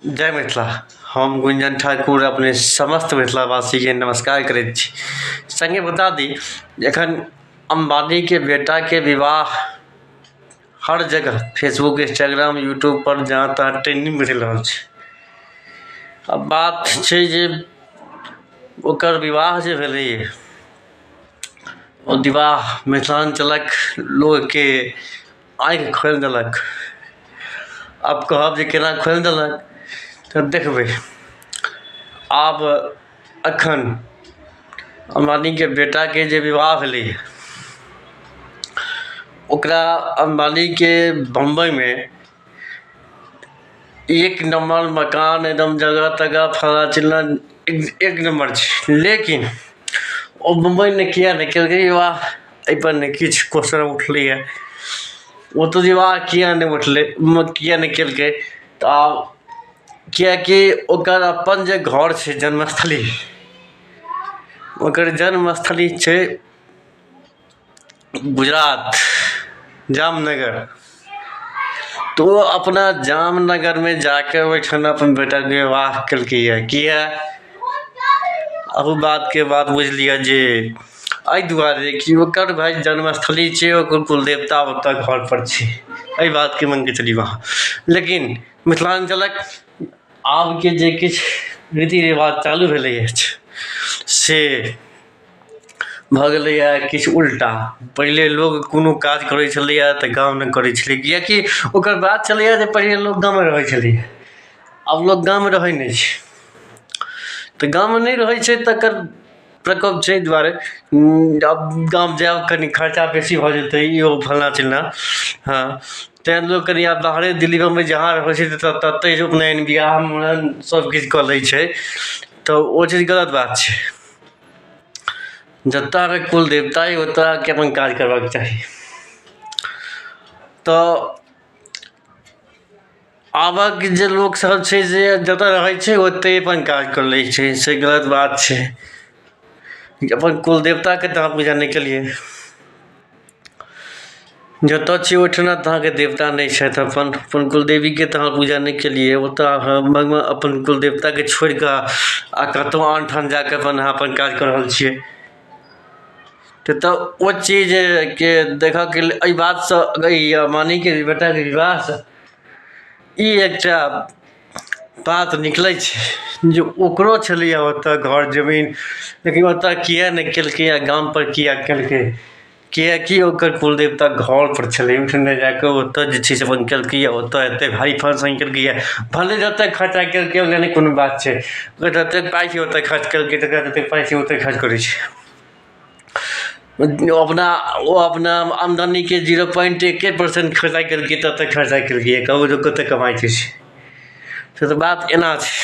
जय मिथिला हम गुंजन ठाकुर अपने समस्त मिथिलावासीके नमस्कार करैत छी सङ्गे बता दी जे एखन अम्बानीके बेटाके विवाह हर जगह फेसबुक इन्स्टाग्राम यूट्यूब पर जहाँ तहाँ ट्रेंडिंग मिल रहल छै आ बात छै जे ओकर विवाह जे भेलैए ओ विवाह मिथिलाञ्चलक लोकके आँखि खोलि देलक आब कहब जे केना खोलि देलक तऽ देखबै आब एखन अम्बानीके बेटाके जे विवाह भेलै हँ ओकरा अम्बानीके बम्बइमे एक नम्बर मकान एकदम जगह तगह फल्लाँ चिल्लाँ एक नम्बर छै लेकिन ओ मुम्बइमे किएक नहि केलकै विवाह एहिपर नहि किछु क्वेश्चन उठलैए ओतऽ विवाह किएक नहि उठलै किएक नहि केलकै तऽ आब किएकि ओकर अपन जे घर छै जन्मस्थली ओकर जन्मस्थली छै गुजरात जामनगर तऽ ओ अपना जामनगरमे जाके ओहिठाम अपन बेटाके विवाह केलकैए किए एहू बातके बात बुझि लिअ जे एहि दुआरे कि ओकर भाय जन्मस्थली छै ओकर कुल देवता ओतऽ घर पर छै एहि बातके मानिके चलियौ अहाँ लेकिन मिथिलाञ्चलक आबके जे किछु रीति रिवाज चालू भेलै अछि से भऽ गेलैया किछु उल्टा पहिले लोग कोनो काज करै छलैया तऽ गाँवमे करै छलै किएकि ओकर बात छलैया जे पहिले लोग गाँवमे रहै छलै आब लोग गाँवमे रहै नहि छै तऽ गाँवमे नहि रहै छै तकर प्रकोप छै एहि दुआरे आब गाँव जायब कनि खर्चा बेसी भऽ जेतै ई ओ फलना चिलना हँ तैं लोग कनि आब बाहरे दिल्ली बम्बइ जहाँ रहै छै ततै उपनयन बिआह मुड़न सब किछु कऽ लै छै तऽ ओ चीज गलत बात छै जतय कुल देवता अछि ओतय के अपन काज करबाक चाही तऽ आबक जे लोक सब छै जे जतय रहै छै ओतय अपन काज कर लै छै से गलत बात छै अपन कुल देवता के तऽ अहाँ पूजा नहि केलियै जतऽ छी ओहिठाम तऽ अहाँके देवता नहि छथि अपन अपन कुलदेवीके तऽ अहाँ पूजा नहि केलिए ओतऽ अहाँ लगमे अपन कुलदेवताके छोड़िकऽ आओर कतहु आन ठाम जाकऽ अपन अहाँ अपन काज कऽ रहल छिए तऽ ओ चीजके देखऽके लेल एहि बातसँ अइ मानैके बेटाके विवाहसँ ई एकटा बात निकलै छै जे ओकरो छलैए ओतऽ घर जमीन लेकिन ओतऽ किएक नहि केलकै आओर गामपर किएक केलकै कियाकि ओकर कुल देवता घरपर छलै ओहिठाम जाकऽ ओतऽ जे छै से अपन केलकैए ओतऽ एतेक भारी फँक्शन केलकैए भनहि जतेक खरचा केलकै ओहिमे नहि कोनो बात छै जतेक पाइ छै ओतऽ खरच केलकै जकरा जतेक पाइ छै ओतऽ खरच करै छै ओ अपना ओ अपना आमदनीके जीरो पोइन्ट एक्के परसेन्ट खरचा केलकै ततय खरचा केलकै कहू जे कतेक कमाइ छै से से तऽ बात एना छै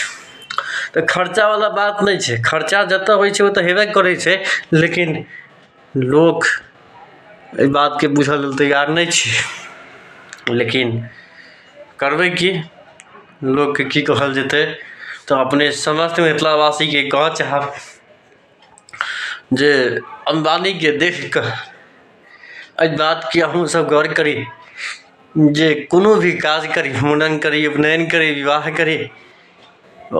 तऽ खरचावला बात नहि छै खरचा जतय होइ छै ओतय हेबे करै छै लेकिन लोक एहि बातकेँ बुझय लेल तैयार नहि छै लेकिन करबै की लोककेँ की कहल जेतै तऽ अपने समस्त मिथिलावासीकेँ कहय चाहब जे अम्बानीके देखि कऽ एहि बातके अहूँसभ गौर करी जे कोनो भी काज करी मूड़न करी उपनयन करी विवाह करी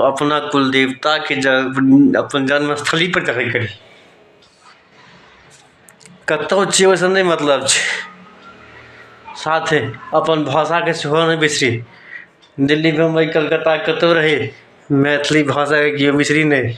अपना कुल देवताके जन्म अपन जन्म स्थलीपर जाके करी कतहु छियै ओहिसँ नहि मतलब छै साथे अपन भाषाके सेहो नहि बिसरी दिल्ली बम्बइ कलकत्ता कतहु रही मैथिली भाषाके केओ बिसरी नहि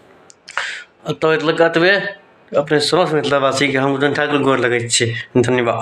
एतऽ एतबे अपने समस्त मिथिलावासीके हम उदयन ठाकुर गोर लगैत छी धन्यवाद